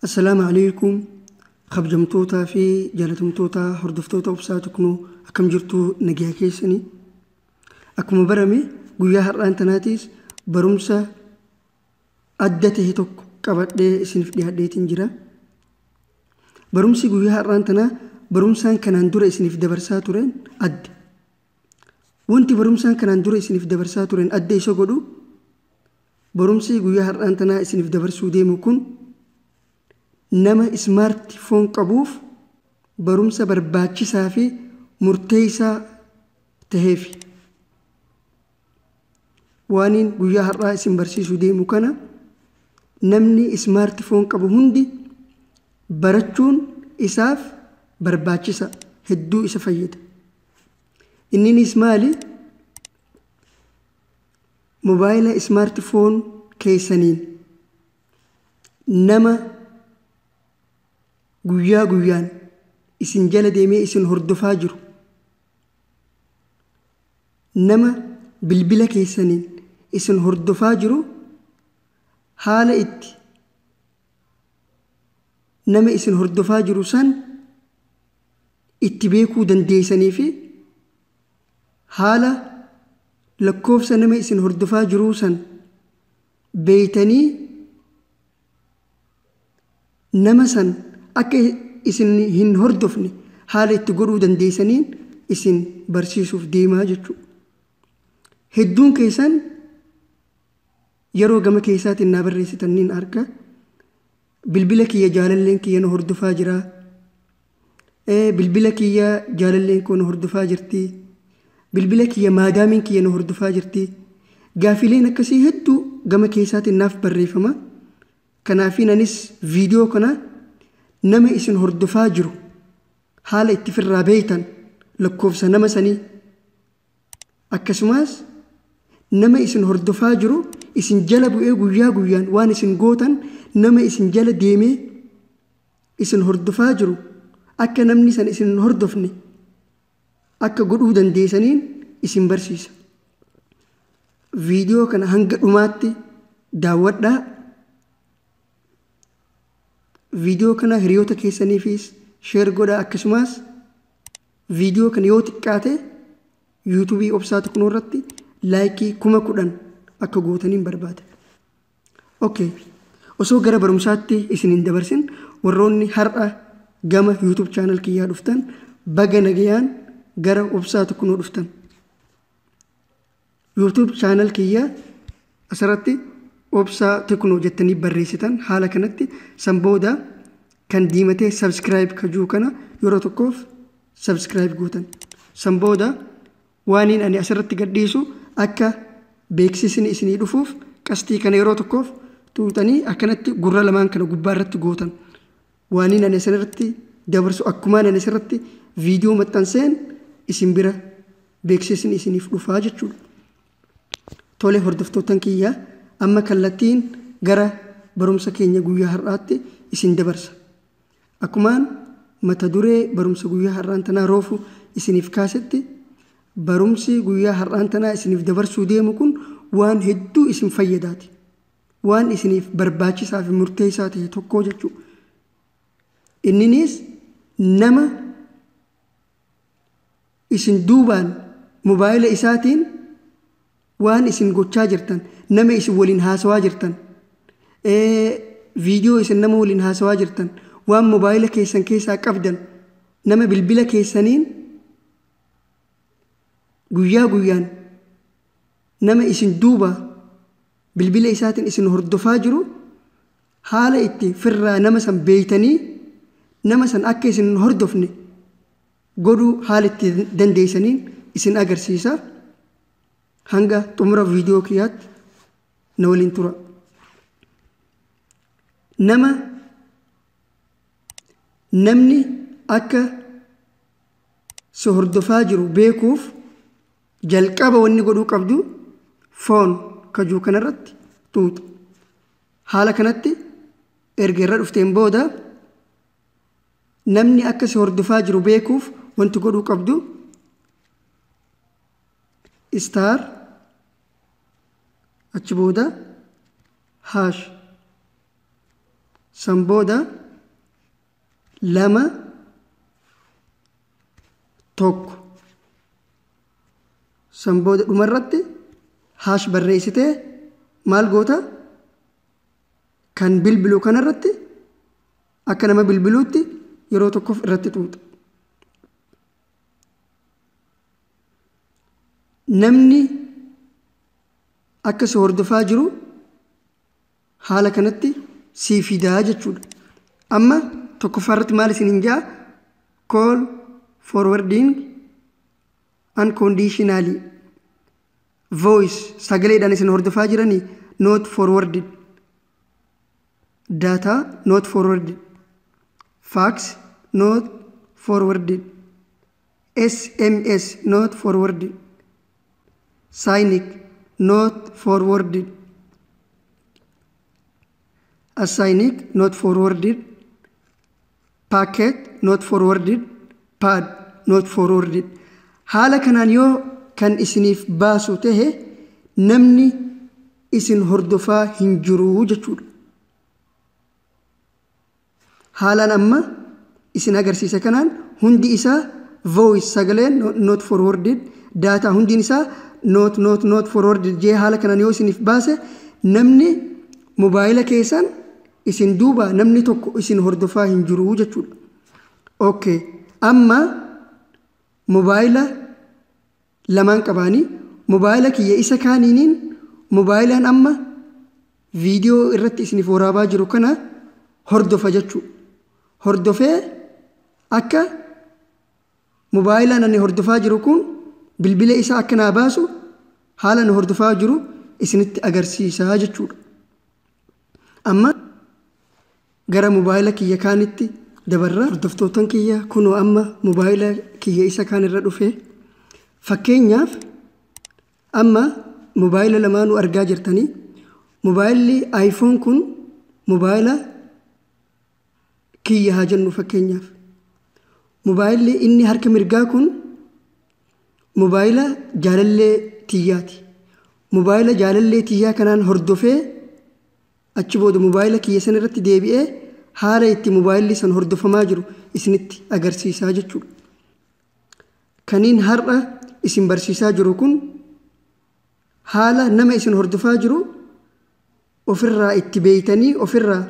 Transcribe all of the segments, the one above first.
Assalaamu alaikum kabjamtootaa fi jaalatamtootaa hordoftoota obsaa tuknoo akkam jirtuu nagaa keessanii akkuma barame guyyaa har'aan tanaatiis barumsa adda ta'e tokko qabadhee isiniif dhiyaadheetiin jira barumsi guyyaa har'aan tanaa barumsaan kanaan dura isiniif dabarsaa tureen adda wanti barumsaan kanaan dura isiniif dabarsaa tureen adda isa godhu Barumsii guyyaa har'aan tanaa isiniif dabarsuu deemu kun nama smart phone qabuuf barumsa barbaachisaa fi murteessaa taheefi. Waaniin guyyaa har'aa isin barsiisuu deemu kana namni smart phone qabu hundi barachuun isaaf barbaachisa hedduu isa fayyada. Inninis maali? mobaayila ismaarti foon keessaniin nama guyyaa guyyaan isin jala deemee isin hordofaa jiru nama bilbila keessaniin isin hordofaa jiru haala itti nama isin hordofaa jiru san itti beekuu dandeeysanii fi Haala lakkoofsa nama isin hordofaa jiruu san beeytanii nama san akka isin hin hordofne haala itti godhuu dandeeysaniin isin barsiisuuf deemaa jechuu. Hedduun keeysan yeroo gama keeysaatiin naa barreeysitan niin arga. Bilbila kiyya jaalalleen kiyya na hordofaa jira. Ee bilbila kiyya jaalalleen koo na hordofaa jirti. Bilbila kiyya maadaamiin kiyya na hordofaa jirti. Gaafiileen akkasii hedduu gama keessaatiin naaf barreeffama. Kanaafiin anis viidiyoo kana nama isin hordofaa jiru haala itti firraa beeytan lakkoofsa nama sanii Akkasumaas nama isin hordofaa jiru isin jala bu'ee guyyaa guyyaan waan isin gootan nama isin jala deemee isin hordofaa jiru akka namni san isin hin hordofne akka godhuu dandeesaniin isin barsiisa. Viidiyoo kana hanga dhumaatti daawwadhaa. Viidiyoo kana hiriyoota keessaniifis sheer godhaa akkasumaas Viidiyoo kana yoo xiqqaate yuutuubii obsaa tuqnoo irratti laayikii kuma kudhan akka gootaniin barbaada. Ok, osoo gara barumsaatti isin hin dabarsin warroonni har'a gama yuutuub chaanal kiyyaa dhuftan baga nagayaan gara obsaa tuqnoo dhuftan. YouTube channel kiyya asirratti obsaa tekno jettanii barreessitan haala kanatti san booda kan diimatee subscribe ka jiru kana yeroo tokkoof subscribe gootan san booda waaniin ani asirratti gadhiisu akka beeksisni isinii dhufuuf qastii kana yeroo tokkoof tuutanii akkanatti gurra lamaan kana gubbaa irratti gootan Waaniin ani isinirratti dabarsu akkumaan ani isirratti viidiyoo maxxanseen isin bira beeksisni isiniif dhufaa jechuudha. Tole hordoftoottan kiyya amma kallattiin gara barumsa keenya guyyaa har'aatti isin dabarsa. Akkumaan mata duree barumsa guyyaa har'aan tanaa roofu isiniif kaasetti barumsi guyyaa har'aan tanaa isiniif dabarsuu deemu kun waan hedduu isin fayyadaati. waan isiniif barbaachisaa fi murteessaa ta'e tokkoo jechuu inniniis nama isin duubaan mobaayila isaatiin waan isin gochaa jirtan nama isin waliin haasawaa jirtan viidiyoo isin nama waliin haasawaa jirtan waan mobaayila keessan keessaa qabdan nama bilbila keessaniin guyyaa guyyaan nama isin duuba Bilbila isaatiin isin hordofaa jiru haala itti firraa nama san beeytanii nama san akka isin hin hordofne godhuu haala itti dandeeysaniin isin agarsiisa. Hanga xumura viidiyoo kiyyaatti na waliin tura. Nama namni akka si hordofaa jiru beekuuf Jalqaba wanni godhuu qabdu foon kajuu kanarratti xuuxa. Haala kanatti erga irra dhufteen booda namni akka si hordofaa jiru beekuuf wanti godhuu qabdu istaar achi booda haash san booda lama tokko san booda dhuma irratti haash barreessitee maal goota kan bilbilu kana irratti akka nama bilbiluutti yeroo tokkoof irratti xuuxa. Namni akka si hordofaa jiru haala kanatti sii fidaa jechuudha. Amma tokkoffaa irratti maal isin hin jaa call forwarding unconditionally voice sagaleedhaan isin hordofaa jiranii not forwarded data not forwarded fax not forwarded sms not forwarded signic not forwarded assignic not forwarded packet not forwarded pad not forwarded haala kanaan yoo kan isiniif baasu tahe namni isin hordofaa hin jiru jechuudha Haalaan amma isin agarsiise kanaan hundi isaa voice sagaleen not forwarded daataa hundiin isaa not not not forwarded jee haala kanaan yoo isiniif baase namni mobaayila keessan isin duuba namni tokko isin hordofaa hin jiru jechuudha. Okay. Amma mobaayila lamaan qabaanii mobaayila kiyya isa kaaniiniin mobaayilaan amma viidiyoo irratti isiniif waraabaa jiru kana hordofa jechuu hordofee akka mobaayilaan ani hordofaa jiru kun bilbila isaa akka naa baasu haala nu hordofaa jiru isinitti agarsiisaa jechuudha amma Gara mobaayila kiyya kaanitti dabarra. Hordoftootan kiyya kunoo amma mobaayila kiyya isa kaan irra dhufe. Fakkeenyaaf amma mobaayila lamaanuu argaa jirtanii. Mobaayilli iPhone kun mobaayila kiyya haa jennu fakkeenyaaf. Mobaayilli inni harka mirgaa kun mobaayila jaalallee tiyyaati. Mobaayila jaalallee tiyyaa kanaan hordofee Achi booda mobaayila kiyya san irratti deebi'ee haala itti mobaayilli san hordofamaa jiru isinitti agarsiisaa jechuudha. Kaniin har'a isin barsiisaa jiru kun haala nama isin hordofaa jiru ofirraa itti beeytanii ofirraa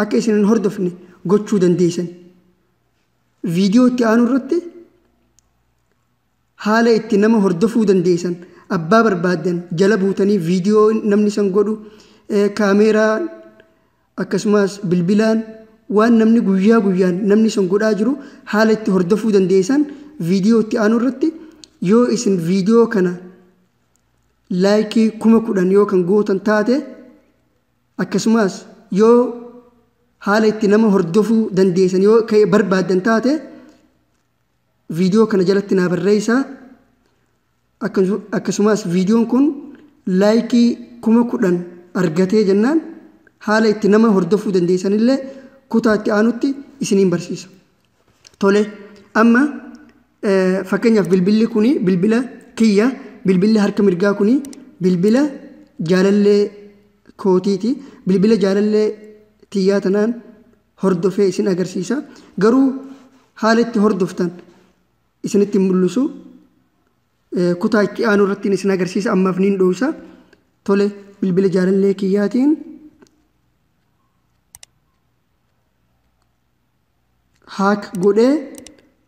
akka isin hin hordofne gochuu dandeeysan. Viidiyoo itti aanu irratti Haala itti nama hordofuu dandeessan abbaa barbaaddan jala buutanii viidiyoo namni san godhu kaameeraan akkasumas bilbilaan waan namni guyyaa guyyaan namni san godhaa jiru haala itti hordofuu dandeessan viidiyoo itti aanu irratti yoo isin viidiyoo kana laayikii kuma kudhan yoo kan gootan taate akkasumas yoo haala itti nama hordofuu dandeessan yoo barbaaddan taate Viidiyoo kana jalatti naa barreessaa. Akkasumas viidiyoon kun laayikii kuma kudhan argatee jennaan haala itti nama hordofuu dandeessanillee kutaa itti aanutti isiniin barsiisa. Tole amma fakkeenyaaf bilbilli kun bilbila kiyya bilbilli harka mirgaa kun bilbila jaalallee kootiiti. Bilbila jaalallee tiyyaa tanaan hordofee isin agarsiisa. Garuu haala itti hordoftan isinitti mul'isu kutaa itti aanu irratti isin agarsiisa ammaaf niin dhoowsa. Tole bilbila jaalallee kiyyaatiin haak godhee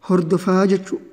hordofaa jechuudha.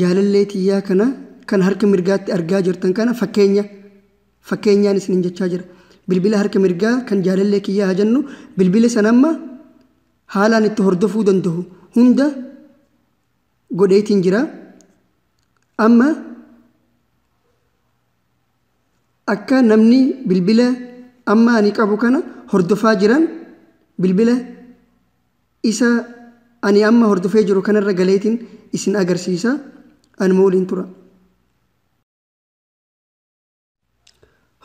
Jaalallee tiyyaa kana kan harka mirgaatti argaa jirtan kana fakkeenya fakkeenyaan isinin jechaa jira. Bilbila harka mirgaa kan jaalallee kiyyaa haa jennu bilbila san amma haalaan itti hordofuu danda'u hunda godheetiin jira. Amma akka namni bilbila amma ani qabu kana hordofaa jiran bilbila Isa ani amma hordofee jiru kanarra galeetiin isin agarsiisa. Anuma waliin tura.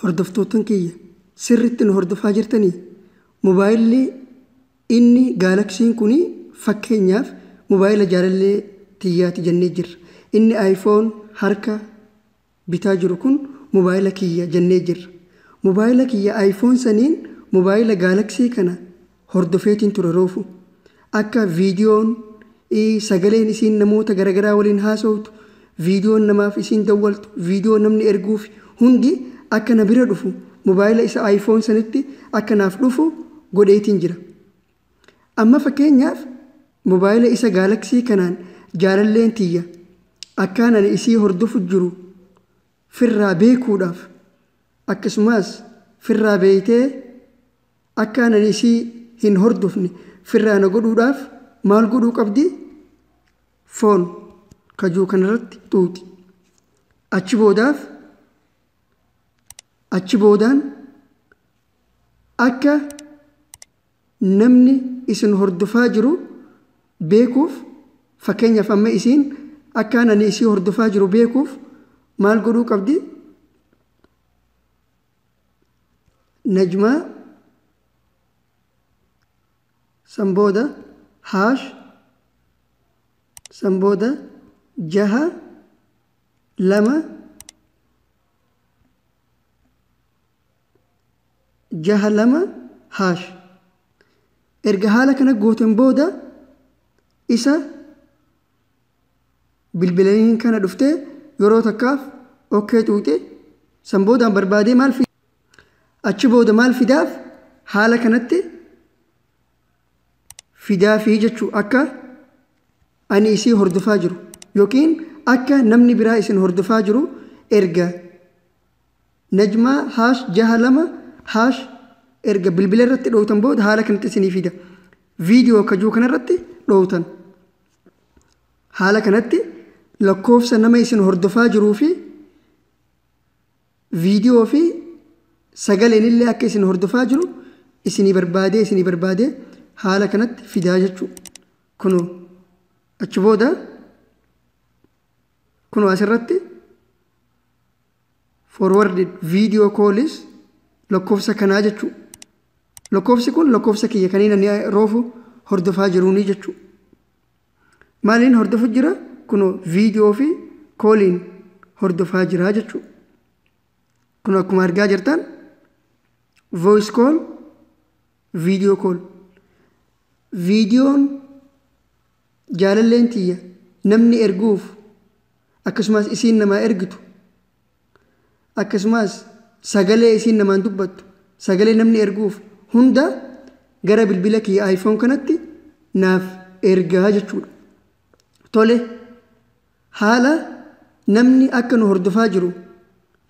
Hordoftoottan kiyya sirriitti nu hordofaa jirtanii? Mobaayilli inni gaalaksiin kun fakkeenyaaf mobaayila jaalallee tiyyaati jennee jirra. Inni iPhone harka bitaa jiru kun mobaayila kiyya jennee jirra. Mobaayila kiyya iPhone saniin mobaayila Galaxy kana hordofeetiin ture roofu. Akka viidiyoon, i, sagaleen isiin namoota garagaraa waliin haasawtu, viidiyoon namaaf isiin dawwaltu, viidiyoo namni erguufi hundi akka na bira dhufu mobaayila isa iPhone sanitti akka naaf dhufu godheetiin jira. Amma fakkeenyaaf mobaayila isa gaalaksii kanaan jaalalleen tiyya akkaan ani isii hordofu jiru firraa beekuudhaaf akkasumaas firraa beeytee akkaan ani isii hin hordofne firraa na godhuudhaaf maal godhuu qabdi? Foon kajuu kanarratti xuuxi. Achi boodaaf achi boodaan akka Namni isin hordofaa jiru beekuuf fakkeenyaaf amma isiin akkaan ani isii hordofaa jiru beekuuf maal godhuu qabdi? Najmaa san booda haash san booda jaha lama jaha lama haash erga haala kana gooten booda isa bilbilaniin kana dhuftee yeroo takkaaf okkee xuuxe san boodaan barbaadee maal fida achi booda maal fidaaf haala kanatti fidaa fi jechuu akka ani isii hordofaa jiru yookiin akka namni biraa isin hordofaa jiru erga Najmaa haash jaha lama haash erga bilbila irratti dhowtan booda haala kanatti isinii fida. Viidiyoo kajuu kanarratti dhowtan. Haala kanatti lakkoofsa nama isin hordofaa jiruu fi viidiyoo fi sagaleen illee akka isin hordofaa jiru isinii barbaadee isinii barbaadee haala kanatti fidaa jechuudha. Kunoo achi booda kunoo asirratti forwarded video call is lakkoofsa kanaa jechuu lakkoofsi kun lakkoofsa kiyya kaniin ani roofu hordofaa jiruunii jechuu maaliin hordofu jira kunoo viidiyoo fi kooliin hordofaa jira jechuu kun akkuma argaa jirtan voice call video call viidiyoon Jaalalleen tiyya namni erguuf akkasumaas isiin namaa ergitu akkasumaas sagalee isiin namaan dubbattu sagalee namni erguuf hunda gara bilbila kiyya iPhone kanatti naaf ergaa jechuudha. Tole haala namni akka nu hordofaa jiru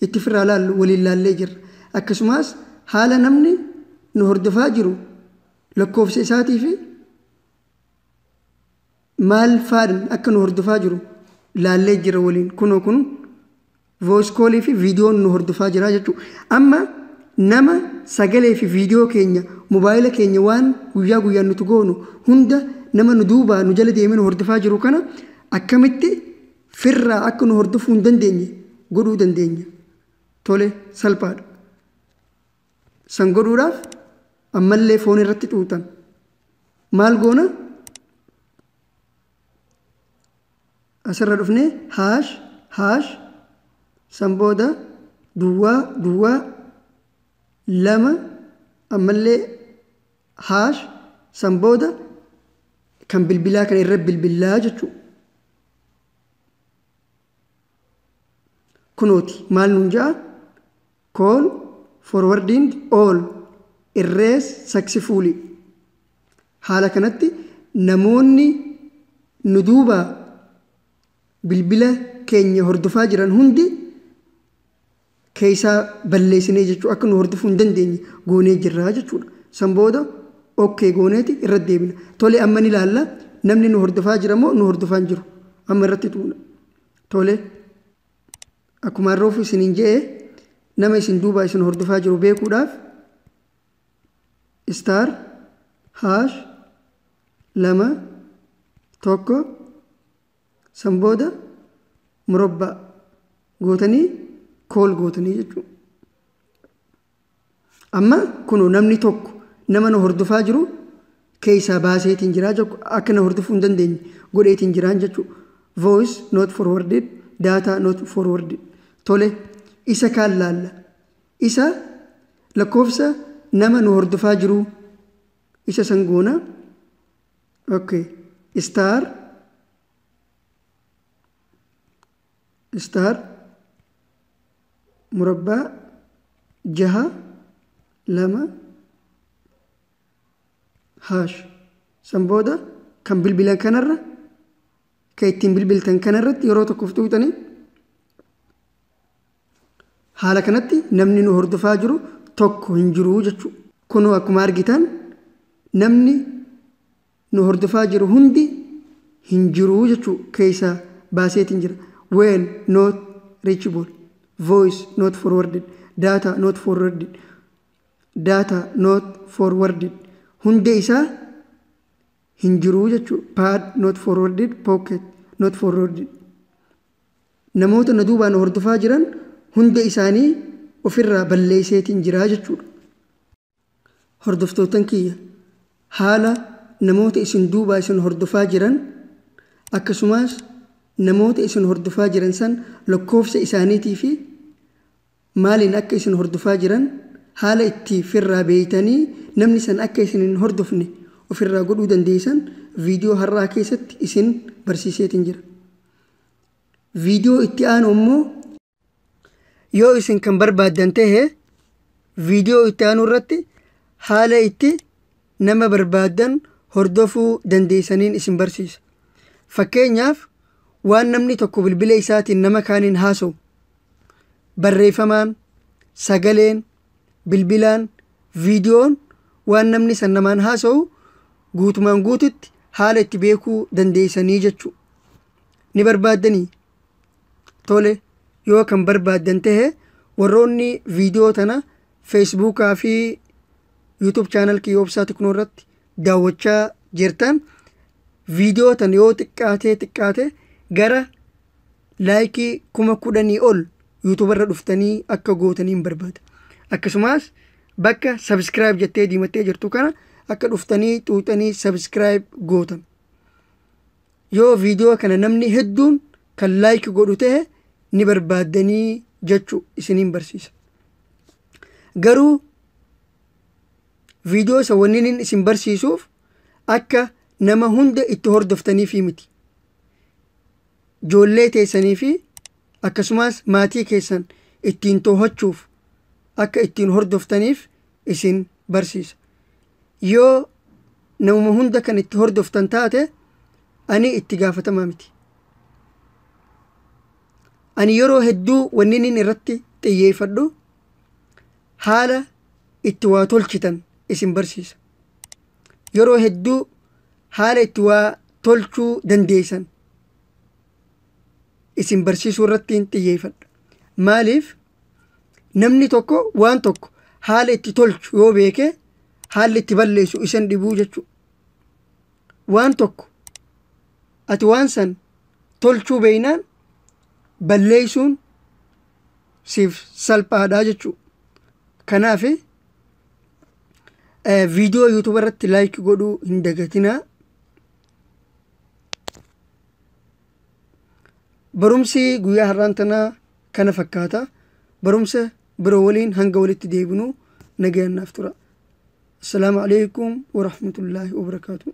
itti firraa laallu waliin laallee jirra. Akkasumaas haala namni nu hordofaa jiru lakkoofsa isaatii fi maal faadhan akka nu hordofaa jiru laallee jira waliin kunoo kun voice call fi viidiyoon nu hordofaa jira jechuudha. Amma nama sagalee fi viidiyoo keenya mobaayila keenya waan guyyaa guyyaan nuti goonu hunda nama nu duubaa nu jala deemee nu hordofaa jiru kana akkamitti firraa akka nu hordofuu hin dandeenye godhuu dandeenya. Tole salphaadha. San godhuudhaaf ammallee foon irratti xuuxan. Maal goona? Asirra dhufnee haash haash san booda duwwaa duwwaa lama ammallee haash san booda kan bilbilaa kana irra bilbilaa jechuudha. kunooti maal nuun ja'a kool forwardiin ool irrees saksifuulii haala kanatti namoonni nu duuba bilbila keenya hordofaa jiran hundi keessaa balleessinee jechuu akka nu hordofuu hin dandeenye goonee jirra jechuudha. San booda okkee gooneeti irra deebina. Tole amma ni laalla namni nu hordofaa jira moo nu hordofaa hin jiru? Amma irratti tuuna. Tole akkuma harroofu isiniin je'e nama isin duubaa isin hordofaa jiru beekuudhaaf istaar haash lama tokko San booda murabbaa gootanii kool gootanii jechuudha. Amma kunoo namni tokko nama na hordofaa jiru keessaa baaseetiin jiraa jechuudha. Akka na hordofuu hin dandeenye godheetiin jiraan jechuudha. Voice not forwarded, data not forwarded. Tole isa kaan laalla. Isa lakkoofsa nama nu hordofaa jiruu isa san goona. ok star star murabbaa jaha lama haash san booda kan bilbilan kanarra kan ittiin bilbiltan kanarratti yeroo tokkoof tuutanii Haala kanatti namni nu hordofaa jiru tokko hin jiru jechuu. Kunoo akkuma argitan namni nu hordofaa jiru hundi hin jiru jechuu keessa baaseetiin jira. When not reachable. Voice not forwarded. Data not forwarded. Data not forwarded. Hundee isaa hin jiru jechuu. Pad not forwarded. Pocket not forwarded. namoota na duubaan hordofaa jiran hunda isaanii ofirraa balleesseetiin jira jechuudha. Hordoftoottan kiyya haala namoota isin duubaa isin hordofaa jiran akkasumaas namoota isin hordofaa jiran san lakkoofsa isaaniitii fi maaliin akka isin hordofaa jiran haala itti firraa beeytanii namni san akka isin hin hordofne ofirraa godhuu dandeeysan viidiyoo har'aa keessatti isin barsiiseetin jira. Viidiyoo itti aanu immoo yoo isin kan barbaaddan tahe viidiyoo itti aanu irratti haala itti nama barbaaddan hordofuu dandeessaniin isin barsiisa. Fakkeenyaaf, waan namni tokko bilbila isaatiin nama kaaniin haasa'u, barreeffamaan, sagaleen, bilbilaan, viidiyoon waan namni san namaan haasa'u guutumaan guututti haala itti beekuu dandeessanii jechuudha. Ni barbaaddanii? tole yoo kan barbaaddan tahe warroonni viidiyoo tana feesbuukaa fi yuutuub chaanal kiyya obsaa tiknoo irratti daawwachaa jirtan viidiyoo tana yoo xiqqaatee xiqqaate gara laayikii kuma kudhanii ol yuutuuba irra dhuftanii akka gootaniin barbaada akkasumas bakka sabiskiraayib jettee diimattee jirtu kana akka dhuftanii xuuxanii sabiskiraayib gootan Yoo video kana namni hedduun kan like godhu ta'e ni barbaaddanii jechu isiniin barsiisa. Garuu video isa wanniin isin barsiisuuf akka nama hunda itti hordoftaniifii miti. Joollee teessanii fi akkasumas maatii keessan ittiin toohachuuf akka ittiin hordoftaniif isin barsiisa yoo namuma hunda kan itti hordoftan taate ani itti gaafatamaa miti ani yeroo hedduu wanni inni irratti xiyyeeffadhu haala itti waa tolchitan isin barsiisa yeroo hedduu haala itti waa tolchuu dandeessan isin barsiisuu irratti xiyyeeffadha maaliif Namni tokko waan tokko haala itti tolchu yoo beekee haalli itti balleessu isan dhibuu jechuudha. Waan tokko ati waan san tolchuu beeynaan balleessuun siif salphaadha jechuudha. Kanaaf viidiyoo yuutuuba irratti laayik godhuu hin dagatinaa. Barumsi guyyaa har'aan tanaa kana fakkaata. Barumsa biroo waliin hanga walitti deebinu nagayaan naaf tura. Assalaamu alaikum wa rahmatullaahi wa barakaatuh.